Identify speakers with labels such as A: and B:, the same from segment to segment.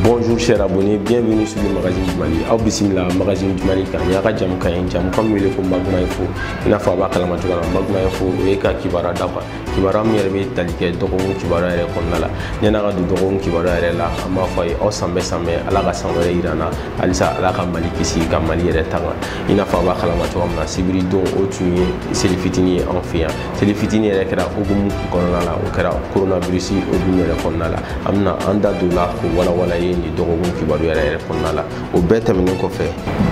A: Bonjour chers abonnés, bienvenue sur le magazine du Mali. Aw bisimila magazine du Mali kan a ka jamukan in jamukan in wele ko Maguma Info. I n'a fɔ a b'a kalama cogo la Maguma Info o ye ka kibaruya d'a kan. Kibaruya min yɛrɛ bɛ tali kɛ dɔgɔkun kibaruya yɛrɛ kɔnɔna la. Yan'an ka don dɔgɔkun kibaruya yɛrɛ la an b'a fɔ a ye aw sanbɛɛ sanbɛɛ Ala ka san wɛrɛ yira an na halisa Ala ka Mali kisi ka Mali yɛrɛ tanga. I n'a fɔ a b'a kalama cogo min na sibiri don o tun ye seli fitini ye anw fɛ yan. seli fitini yɛrɛ kɛra hukumu kɔnɔna la o kɛra coronavirus hukumu yɛrɛ kɔnɔna la an bɛna an da don la k'o walawala ye nin dɔgɔkun kibaru yɛrɛ yɛrɛ kɔnɔna la o bɛɛ tɛmɛnen kɔfɛ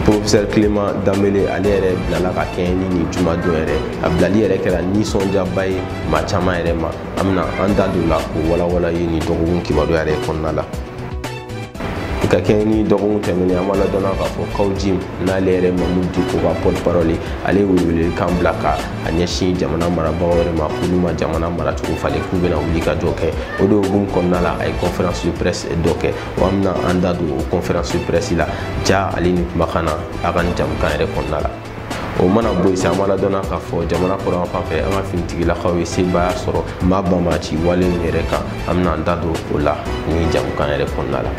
A: professeur clément dembélé ale yɛrɛ bilala ka kɛɲɛ ni nin jumadon yɛrɛ a bilali yɛrɛ kɛra nisɔndiyaba ye maa caman yɛrɛ ma an bɛna an da don la k'o walawala ye nin dɔgɔkun kibaru yɛrɛ kɔnɔna la i ka kɛɲɛ ni dɔgɔkun tɛmɛnen an b'a ladɔnna k'a fɔ kaw jim n'ale yɛrɛ mamudu diko ka porte parole ale ye welewelekan bila ka a ɲɛsin jamana marabagaw yɛrɛ ma k'olu ma jamana maracogo falen k'u bɛna wulikajɔ kɛ o de hukumu kɔnɔna la a ye conférence de presse dɔ kɛ wa an bɛna an da don o conférence de presse la ja ale ni kumakan na a ka nin jamukan yɛrɛ kɔnɔna la o mana bɔ yen sa an b'a ladɔnna k'a fɔ jamana kɔrɔn fan fɛ an ka finitigilakaw ye sebaaya sɔrɔ maa banbaanci wale in yɛrɛ kan an bɛna an da don o la nin jamukan yɛrɛ kɔnɔna la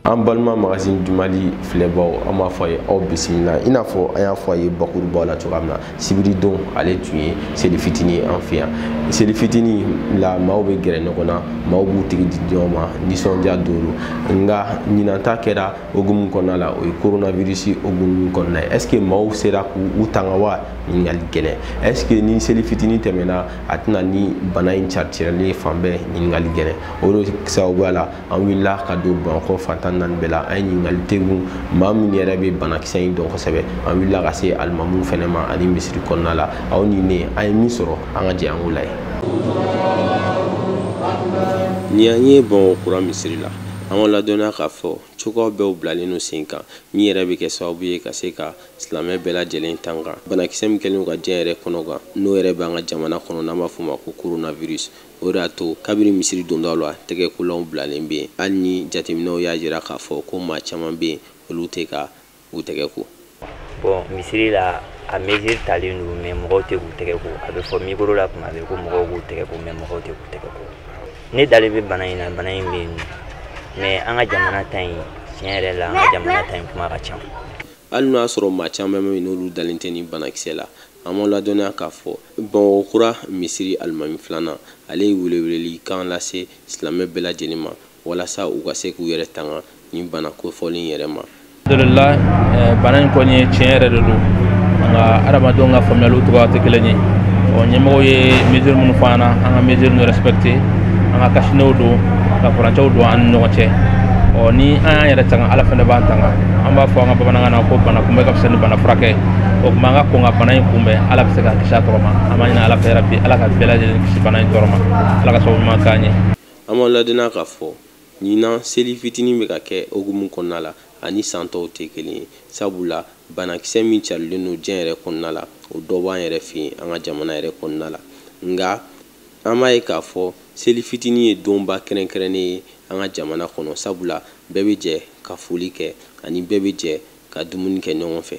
A: an balima magazine du mali filɛbaw an b'a fɔ a ye aw bisimila i n'a fɔ an y'a fɔ a ye bakurubaw la cogoya min na sibiridon ale tun ye seli fitini ye an fɛ yan seli fitini la maaw bɛ gɛrɛ ɲɔgɔn na maaw b'u tɛgɛ di ɲɔgɔn ma nisɔndiya don nka ɲinan ta kɛra hukumu kɔnɔna la o ye coronavirus hukumu kɔnɔna ye est ce que maaw sera k'u tanga wa ɲininkali gɛlɛn est ce que ni seli fitini tɛmɛna a tɛna ni bana in caritirɛlen fan bɛɛ ɲininkali gɛlɛn o de sababuya la an wulila ka don bamakɔ fan tan ni naani bɛɛ la an ye ɲininkali tegun maa min yɛrɛ bɛ banakisɛ in dɔn kosɛbɛ an wulila ka se alimamu fɛnɛ ma ani misiri kɔnɔna la aw ni ne an ye min sɔrɔ an ka jɛ an k'o lajɛ ni an ye bamakɔ kura misiri la An b'aw ladɔnniya k'a fɔ, cogoyaw bɛɛ bilalen don sen kan, min yɛrɛ bɛ kɛ sababu ye ka se ka silamɛ bɛɛ lajɛlen tanga banakisɛ min kɛlen don ka diɲɛ yɛrɛ kɔnɔgan, n'o yɛrɛ bɛ an ka jamana kɔnɔ n'an b'a fɔ o ma ko coronavirus. O de y'a to, kabini misiri dondaw la, tɛgɛkolanw bilalen bɛ yen, hali ni jateminɛw y'a yira k'a fɔ ko maa caman bɛ yen, olu tɛ ka u tɛgɛ ko bon
B: misiri la a mesure talen don mais mɔgɔw tɛ k'u tɛgɛ ko a bɛ fɔ micro la kuma bɛɛ ko mɔgɔw k'u tɛgɛ ko mais mɔgɔw tɛ k'u tɛgɛ ko ne dalen bɛ bana in na bana in bɛ yen mais an ka jamana ta in tiɲɛ yɛrɛ la an ka jamana ta in kuma ka ca hali n'o y'a
A: sɔrɔ maa caman bɛ yen n'olu dalen tɛ nin banakisɛ la an b'aw ladɔnniya k'a fɔ bamakɔ kura misiri alimami filanan ale ye weleweleli kan lase silamɛ bɛɛ lajɛlen ma walasa u ka se k'u yɛrɛ tanga nin bana kofɔlen in yɛrɛ ma alhamdulillah
C: eh, bana in kɔni ye tiɲɛ yɛrɛ de don nka adamadenw ka faamuyaliw cogoya tɛ kelen ye ɔ ɲɛmɔgɔw ye mesure minnu fɔ an na an ka mesure ninnu respecter an ka kasinew don ka furancɛw don an ni ɲɔgɔn cɛ ɔ ni an y'an yɛrɛ tanga ala fana b'an tanga an b'a fɔ an ka bamanankan na ko bana kunbɛn ka fisa ni bana furakɛ o tuma an ka kɔn ka bana in kunbɛn ala bɛ se k'an kisi a tɔɔrɔ ma an b'a ɲini ala fɛ yarabi ala ka bɛɛ lajɛlen kisi bana in tɔɔrɔ ma ala ka sababu ɲuman k'an ye An b'aw
A: ladɔnniya k'a fɔ, ɲinan seli fitinin bɛ ka kɛ hukumu kɔnɔna la, a ni san tɔw tɛ kelen ye, sabu la banakisɛ min carilen don diɲɛ yɛrɛ kɔnɔna la, o dɔ b'an yɛrɛ fɛ yen, an ka jamana yɛrɛ kɔnɔna la. Nka, an b'a ye k'a fɔ, seli fitinin ye donba kɛrɛnkɛrɛnnen ye an ka jamana kɔnɔ, sabu la bɛɛ bɛ jɛ ka foli kɛ ani bɛɛ bɛ jɛ ka dumuni kɛ ɲɔgɔn fɛ.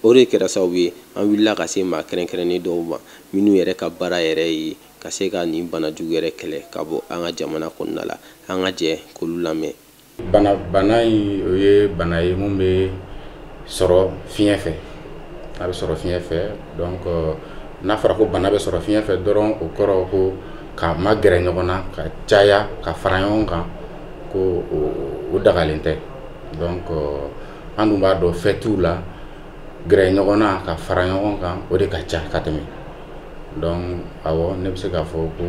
A: o de kɛra sababu ye an wulila ka se maa kɛrɛnkɛrɛnnen dɔw ma minnu yɛrɛ ka baara yɛrɛ ye ka se ka nin bana jugu yɛrɛ kɛlɛ ka bɔ an ka jamana kɔnɔna la an ka jɛ k'olu lamɛn bana bana
D: in o ye bana ye mun bɛ sɔrɔ fiɲɛ fɛ a bɛ sɔrɔ fiɲɛ fɛ donc n'a fɔra ko bana bɛ sɔrɔ fiɲɛ fɛ dɔrɔn o kɔrɔ ko ka magɛrɛ ɲɔgɔn na ka caya ka fara ɲɔgɔn kan ko o dagalen tɛ donc an dun b'a dɔn fɛtiw la gɛrɛ ɲɔgɔn na ka fara ɲɔgɔn kan o de ka ca ka tɛmɛ donc awɔ ne bɛ se k'a fɔ ko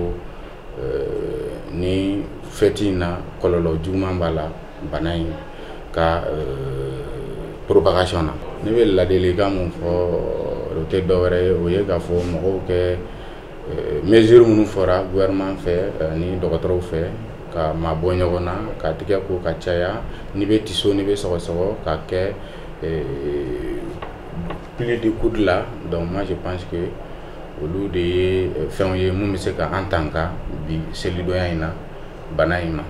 D: euh, nin fɛti in na kɔlɔlɔ juguman b'a la bana in ka euh, propagation na ne bɛ ladilikan mun fɔ o tɛ dɔwɛrɛ ye o ye k'a fɔ mɔgɔw kɛ Euh, mesure minnu fɔra gouvernement fɛ euh, ni dɔgɔtɔrɔw fɛ ka mabɔ ɲɔgɔn na ka tigɛ ko ka caya n'i bɛ tiso n'i bɛ sɔgɔsɔgɔ k'a kɛ euh, pli de coude la donc moi je pense que olu de ye fɛnw ye min bɛ se ka an tanga bi selidonya in na bana in ma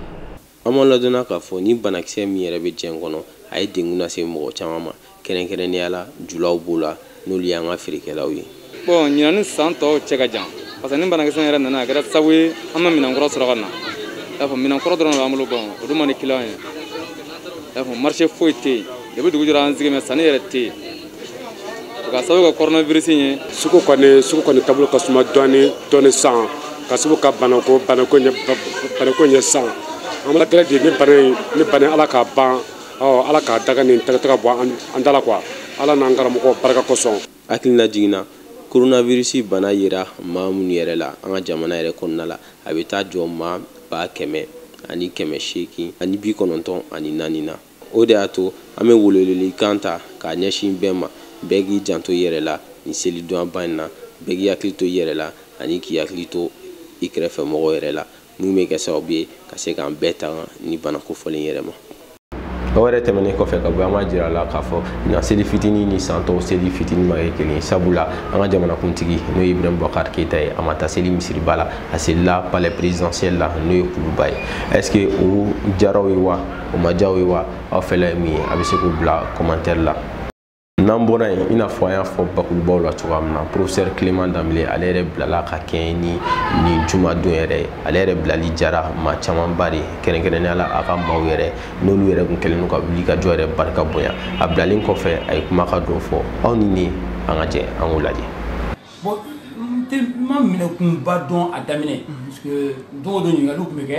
D: An b'aw
A: ladɔnniya k'a fɔ nin banakisɛ min yɛrɛ bɛ diɲɛ kɔnɔ, a ye degun lase mɔgɔ caman ma, kɛrɛnkɛrɛnnenya la julaw b'o la, n'olu y'an ka feerekɛlaw ye. Bon ɲinan ni
E: san tɔw cɛ ka jan, parce que nin banakisɛ in yɛrɛ nana, a kɛra sabu ye an ma minɛn kura sɔrɔ ka na, i y'a faamu, minɛn kɔrɔ dɔrɔn de b'an bolo, bon o dun man di kiliyanw ye, i y'a faamu, marché foyi tɛ yen, depuis dugu jɛra an sigilen bɛ, sanni yɛrɛ tɛ yen. k'a sababu kɛ coronavirus in ye sugu kɔni
F: sugu kɔni taabolo ka suma dɔɔni dɔɔni san k'a sababu kɛ banako banako in ye banako in ye san an b'ala deli de nin bana in ni bana ala k'a ban ɔ ala k'a daga nin tagataga bɔ an da la quoi ala n'an karamɔgɔ barika kosɔn hakilinajigin
A: na koronavirisi bana yera maa minnu yɛrɛ la an ka jamana yɛrɛ kɔnɔna la a bɛ taa jɔ maa ba kɛmɛ ani kɛmɛ seegin ani bi kɔnɔntɔn ani naani na O de y'a to an bɛ welewelekan ta k'a ɲɛsin bɛɛ ma, bɛɛ k'i janto i yɛrɛ la nin seli donyaba in na, bɛɛ k'i hakili to i yɛrɛ la ani k'i hakili to i kɛrɛfɛ mɔgɔw yɛrɛ la, min bɛ kɛ sababu ye ka se k'an bɛɛ tanga nin bana kofɔlen yɛrɛ ma. O yɛrɛ tɛmɛnen kɔfɛ ka bɔ yen, an b'a jira a la k'a fɔ ɲinan seli fitini ni san tɔw seli fitini ma kɛ kelen ye, sabula an ka jamanakuntigi n'o ye Ibrahim Boubacar Keita ye, a ma taa seli misiriba la, a selila palais presidentiel la n'o ye kuluba ye, est ce que o diyara aw ye wa? o ma diya aw ye wa aw fɛla ye min ye a bɛ se k'o bila kɔmantɛri la n'an bɔra yen i n'a fɔ an y'a fɔ bakurubaw la cogoya min na professeur clément dembélé ale yɛrɛ bilala ka kɛɲɛ ni nin juma don yɛrɛ ye ale yɛrɛ bilali diyara maa camanba de ye kɛrɛnkɛrɛnnenya la a ka maaw yɛrɛ n'olu yɛrɛ tun kɛlen don ka wulikajɔ yɛrɛ barika bonya a bilalen kɔfɛ a ye kuma ka dɔ fɔ aw ni ne an ka jɛ an k'o lajɛ bon n
G: tun ma minɛkunba dɔn a daminɛ parce que don o don ɲininkaliw tun bɛ kɛ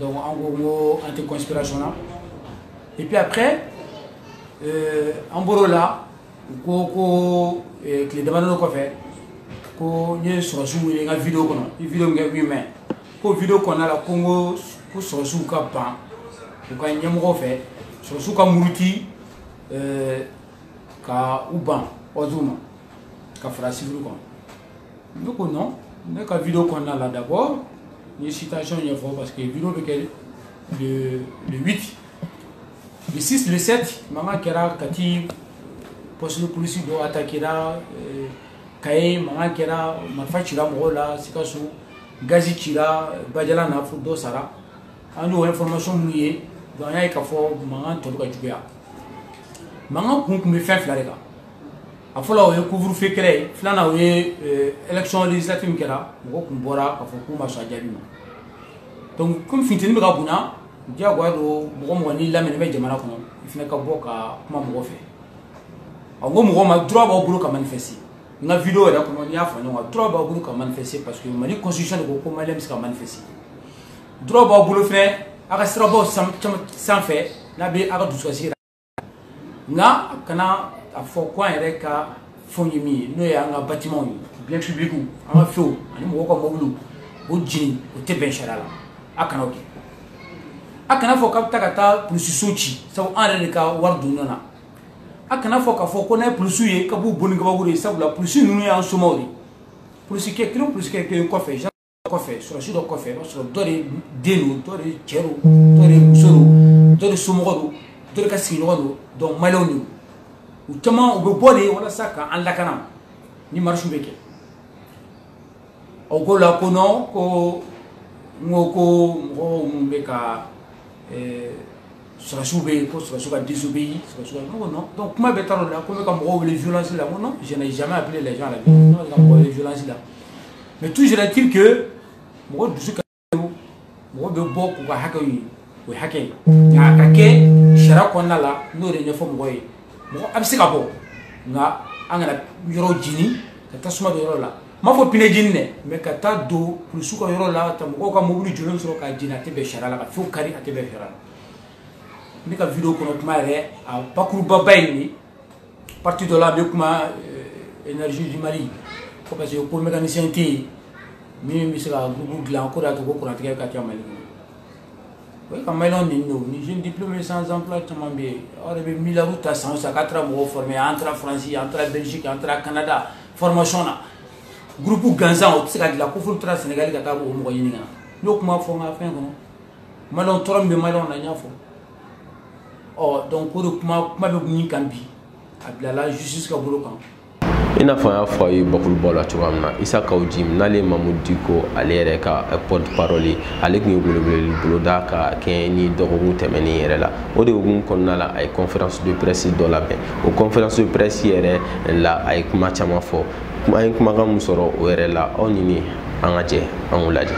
G: donc an ko ko an tɛ conspiration na et puis après euh, an bɔr'o la u ko ko euh, tile damadɔ kɔfɛ ko n ye sɔrɔsiw wele n ka video kɔnɔ i video min kɛ 8 mai ko video kɔnɔna la ko n ko ko sɔrɔsiw ka ban u ka ɲɛmɔgɔ fɛ sɔrɔsiw ka muruti euh, ka u ban ordre ma ka fara sivili kɔnɔ ne ko non ne ka video kɔnɔna la d'abord n ye situation ɲɛfɔ parce que video bɛ kɛ le le 8 le 6 le 7 mankan kɛra kati poste de police dɔ attaquera euh, kaye mankan kɛra marifa cira mɔgɔw la sikaso gazi cira bajalan na fo dɔ sara an y'o information minnu ye donc an y'a ye k'a fɔ mankan tun bɛ ka juguya mankan kun tun bɛ fɛn fila de kan a fɔlɔ o ye couvre-feu kɛlɛ ye filanan o ye élection législative min kɛra mɔgɔ tun bɔra k'a fɔ k'u ma sɔn a jaabi ma kɔmi funteni bɛ ka bonya diyagoya don mɔgɔ mɔgɔ n'i lamɛnni bɛ jamana kɔnɔ i fana ka bɔ ka kuma mɔgɔ fɛ n ko mɔgɔ ma droit b'a bolo ka manifester n ka video yɛrɛ kɔnɔ n y'a fɔ ɲɔgɔn droit b'a bolo ka manifester paseke mali constitution de ko ko maa bɛ se ka manifester droit b'a bolo fɛnɛ a ka siraba sanfɛ n'a bɛ aw ka dusukasi nka a kana a fɔ ko an yɛrɛ ka fɛnw ye min ye n'o ye an ka batimanw ye biens publics an ka fɛnw ani mɔgɔw ka mɔbiliw o jeni o tɛ bɛn sariya la a kana o kɛ a kana fɔ k'a bɛ taa ka taa polisiso ci sabu an yɛrɛ de ka wari don ɲɔgɔn na a kana fɔ k'a fɔ ko n'a ye polisiw ye ka b'u bon ni kabakuru ye sabula polisi ninnu y'an somaaw de ye polisikɛ kelen polisikɛ kelen kɔfɛ kɔfɛ sɔrɔsi dɔ kɔfɛ i b'a sɔrɔ dɔ de den don dɔ de cɛ don dɔ de muso don dɔ de somɔgɔ don dɔ de ka sigiɲɔgɔn don donc maliyɛnw don u caman u bɛ bɔ de walasa ka an lakana ni marisiw bɛ kɛ o ko la ko non ko n ko ko mɔgɔw minnu bɛ ka ɛɛ sɔrɔsiw bɛ yen ko sɔrɔsiw ka désobéir sɔrɔsiw ka n ko non donc kuma bɛɛ taara o la ko n bɛ ka mɔgɔw wele violence la n ko non je n'ai jamais appelé les gens à la violence ne ma se ka mɔgɔ wele violence la mais toujours est-il que mɔgɔ dusu ka mɔgɔ bɛ bɔ k'u ka hakɛw ɲini o ye hakɛ ye nka a ka kɛ sariya kɔnɔna la n'o de ɲɛfɔ mɔgɔ ye mɔgɔ a bɛ se ka bɔ nka an kana yɔrɔ jeni ka tasuma don yɔrɔ la m'a fɔ pinɛ jeni dɛ mais ka taa don polisiw ka yɔrɔ la ka mɔgɔw ka mobili jɔlen sɔrɔ k'a jeni a tɛ bɛn sariya la ka fɛnw kari a tɛ bɛn sariya la ne ka vidéo kɔnɔ kuma yɛrɛ a bakurubaba ye nin ye partie dɔ la n bɛ kuma euh, énergie du mali ko parce que ko mécanicien tɛ yen min bɛ se ka groupe dilan k'o de y'a to ko kurantigɛ ka ca mali kɔnɔ o ye ka maliyɛnw neni o ni jeune diplômé sans emploi caman bɛ yen aw yɛrɛ bɛ miliyariw ta san o san k'an taara mɔgɔw former an taara faransi an taara belgique an taara canada formation na groupe gansan o tɛ se ka dilan ko f'olu taara Sénégal ka taa o mɔgɔ ɲini ka na n y'o kuma fɔ n ka fɛn kɔnɔ maliyɛnw tɔɔrɔ min bɛ maliyɛnw na n y'a fɔ ɔ donc o de kuma kuma bɛ min kan bi a bilala justice ka bolo kan i n'a fɔ an
A: y'a fɔ a ye bakurubaw la cogoya min na isa kaw jim n'ale ye mamudu diko ale yɛrɛ ka eh, porte-parole ye ale tun ye weleweleli boloda ka kɛɲɛ ni dɔgɔkun tɛmɛnen yɛrɛ la o de hukumu kɔnɔna la a ye conférence de presse dɔ labɛn o conférence de presse yɛrɛ la a ye kuma caman fɔ an ye kumakan min sɔrɔ o yɛrɛ la aw ni ne an ka jɛ an k'u lajɛ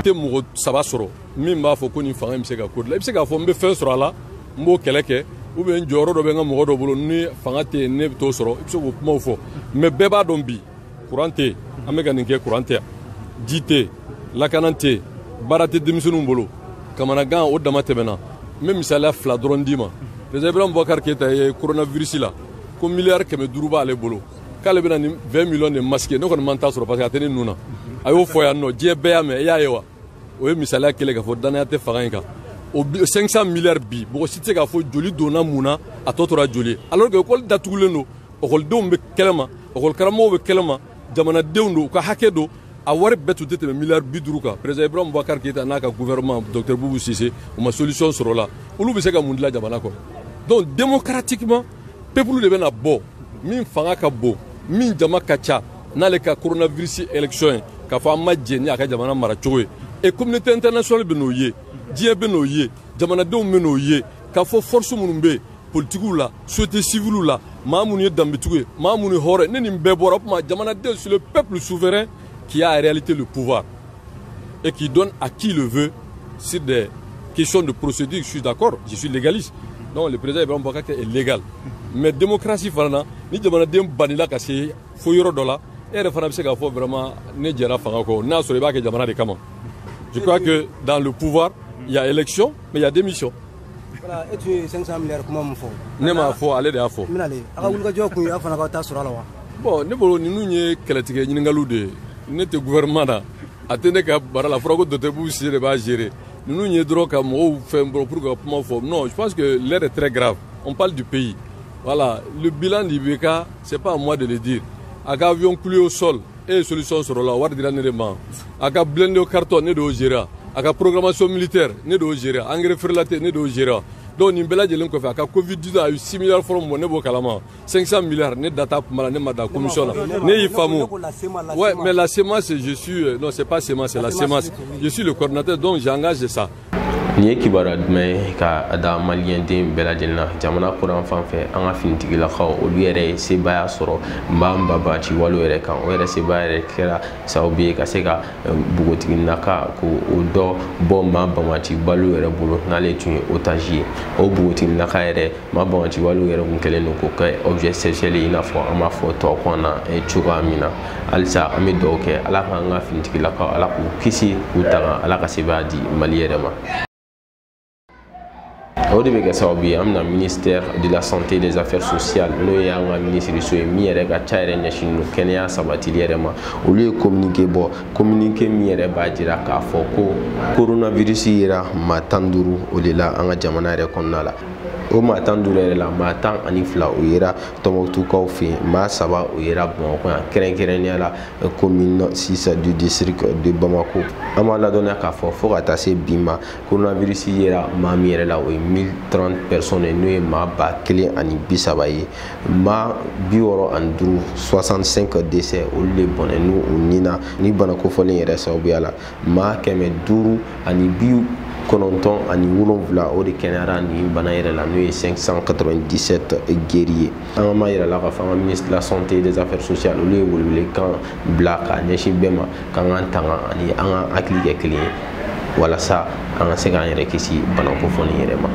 A: tɛ mɔgɔ
H: saba sɔrɔ min b'a fɔ ko nin fanga in bɛ se ka ko dilan i bɛ se k'a fɔ n bɛ fɛn sɔrɔ a la n b'o kɛlɛ kɛ ou bien jɔyɔrɔ dɔ bɛ n ka mɔgɔ dɔ bolo ni fanga tɛ yen ne bɛ t'o sɔrɔ i bɛ se k'o kumaw fɔ mais bɛɛ b'a dɔn bi kuran tɛ an bɛ ka nin kɛ kuran tɛ ji tɛ lakana tɛ baara tɛ denmisɛnninw bolo kamanagan o dama tɛmɛna n bɛ misaliya fila dɔrɔn d'i ma président ibrahim bubakar keyita ye coronavirus la ko miliyari kɛmɛ duuru b'ale bolo k'ale bɛna ni 20 millions de masques ne kɔni ma n ta sɔrɔ parce que a tɛ ne nun na a y'o fɔ yan nɔ diɲɛ bɛɛ y'a mɛn e y'a ye wa o ye misaliya kelen k'a fɔ dannaya tɛ fanga in kan o 500 milliards bi mɔgɔ si tɛ se k'a fɔ joli donna mun na a tɔ tora joli ye alors que école datugulen don ekɔlidenw bɛ kɛnɛma ekɔlikaramɔgɔw bɛ kɛnɛma jamanadenw don u ka hakɛ don a wari bɛɛ tun tɛ tɛmɛ miliyari bi duuru kan président ibrahim bubakari keyita n'a ka gouvernement docteur bubu sise u ma solution sɔrɔ la olu bɛ se ka mun dila jamana kɔnɔ donc démocratiquement peuple de bɛna bɔ min fanga ka bon min jama ka ca n'ale ka coronavirus élection ye k'a fɔ an ma jɛn ni a ka jamana mara cogo ye et communauté internationale bɛn'o ye diɲɛ bɛn'o ye jamanadenw bɛn'o ye k'a fɔ force minnu bɛ yen politikiw la société civile la maa minnu ye danbetigiw ye maa minnu ye hɔrɔn ye ni bɛɛ bɔra o tuma jamanaden c'est le peuple souverain qui a en réalité le pouvoir et qui donne à qui le veut sur des questions de procédure je suis d'accord je suis légaliste donc le président Ibrahim Boubacar Keïta est légal mais démocratie fana na ni jamanaden banila ka se fo yɔrɔ dɔ la e yɛrɛ fana bɛ se k'a fɔ vraiment ne jɛra fanga kɔ n'a sɔrɔ i b'a kɛ jamana de kama je crois que dans le pouvoir il y a élection mais il y a démission voilà e
I: tun ye 500 milliards kuma min fɔ ne m'a fɔ ale de
H: y'a fɔ n bɛna le a ka wulikajɔ
I: kun ye aw fana ka taa sɔrɔ a la wa bon ne bolo ninnu
H: ye kɛlɛtigɛ ɲininkaliw de ye ne tɛ gouvernement na a tɛ ne ka baara la fɔra ko docteur Boubou Cissé de b'a gérer ninnu ye dɔrɔn ka mɔgɔw fɛn bɔ pour ka kuma fɔ non je pense que l'heure est très grave on parle du pays voilà le bilan d'IBK c'est pas à moi de le dire a ka avion cloué au sol e ye solution sɔrɔ a la wari dira ne de ma a ka blindé en carton ne de y'o gérer a ka programmation militaire ne de y'o gérer engrais frelaté ne de y'o gérer donc nin bɛɛ lajɛlen kɔfɛ a ka covid 19 a ye 6 milliards fɔlɔ min bɔ ne b'o kalama 500 milliards ne da t'a kuma la ne ma da commission na ne y'i faamu ouais mais la CMAS je suis euh, non c'est pas CMAS c'est la CMAS je suis le coordinateur donc j'engage ça nin ye
A: kibaruya duman ye ka a da maliyɛnden bɛɛ lajɛlen na jamana kɔrɔn fan fɛ an ka finitigilakaw olu yɛrɛ ye sebaaya sɔrɔ maa banbaanci walew yɛrɛ kan o yɛrɛ sebaaya yɛrɛ kɛra sababu ye ka se ka npogotigi naka ko o dɔ bɔ maa banbaanci walew yɛrɛ bolo n'ale tun ye otage ye o npogotigi naka yɛrɛ maa banbaanci walew yɛrɛ kun kɛlen don k'o kɛ objet sexuel i n'a fɔ an b'a fɔ tubabukan na eh, cogoya min na halisa an bɛ dugawu kɛ ala k'an ka finitigilakaw ala k'u kisi k'u tanga ala ka sebaaya di mali yɛrɛ ma o de bɛ kɛ sababu ye an bɛna ministère de la santé et des affaires sociales n'o ye an ka minisiriso ye min yɛrɛ ka ca yɛrɛ ɲɛsinnen don kɛnɛya sabatili yɛrɛ ma olu ye communiqué bɔ communiqué min yɛrɛ b'a jira k'a fɔ ko coronavirus yera maa tan ni duuru o de la an ka jamana yɛrɛ kɔnɔna la o maa tan duuru yɛrɛ la maa tan ani fila o yera tɔnbukutukaw fɛ yen maa saba o yera bamakɔ yan kɛrɛnkɛrɛnnenya la commune 6 du district de bamako an b'a ladɔnniya k'a fɔ fo ka taa se bi ma coronavirus yera maa min yɛrɛ la o ye 1030 personnes ye n'o ye maa ba kelen ani bi saba ye maa bi wɔɔrɔ ani duuru 65 décès olu de bɔnɛna u ni na nin bana kofɔlen yɛrɛ sababuya la maa kɛmɛ duuru ani bi kɔnɔntɔn ani wolonwula o de kɛnɛyara nin bana yɛrɛ la n'o ye 597 guéris ye an b'a yira aw la k'a fɔ an ka ministre de la santé et des affaires sociales olu ye welewelekan bila k'a ɲɛsin bɛɛ ma k'an k'an tanga ani an ka hakili kɛ kelen ye walasa an ka se k'an yɛrɛ kisi bana kofɔlen yɛrɛ ma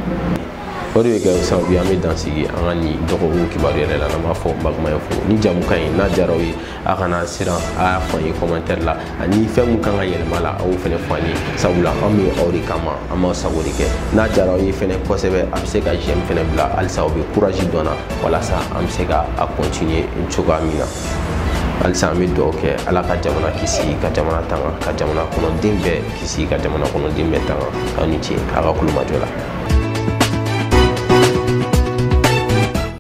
A: o de bɛ kɛ sababu ye an bɛ dan sigi an ka nin dɔgɔkun kibaru yɛrɛ la n'an b'a fɔ bakumaya fo ni jamukan ye n'a diyara aw ye a kana siran a y'a fɔ an ye commentaire la ani fɛn min kan ka yɛlɛma la a y'o fɛnɛ fɔ an ye sabula an bɛ aw de kama an b'aw sago de kɛ n'a diyara aw ye fɛnɛ kosɛbɛ a bɛ se ka j'aime fɛnɛ bila halisa aw bɛ courage don an na walasa an bɛ se ka a continuer cogoya min na halisa an bɛ dugawu kɛ ala ka jamana kisi ka jamana tanga ka jamana kɔnɔden bɛɛ kisi ka jamana kɔnɔden bɛɛ tanga aw ni ce a ka tulomajɔ la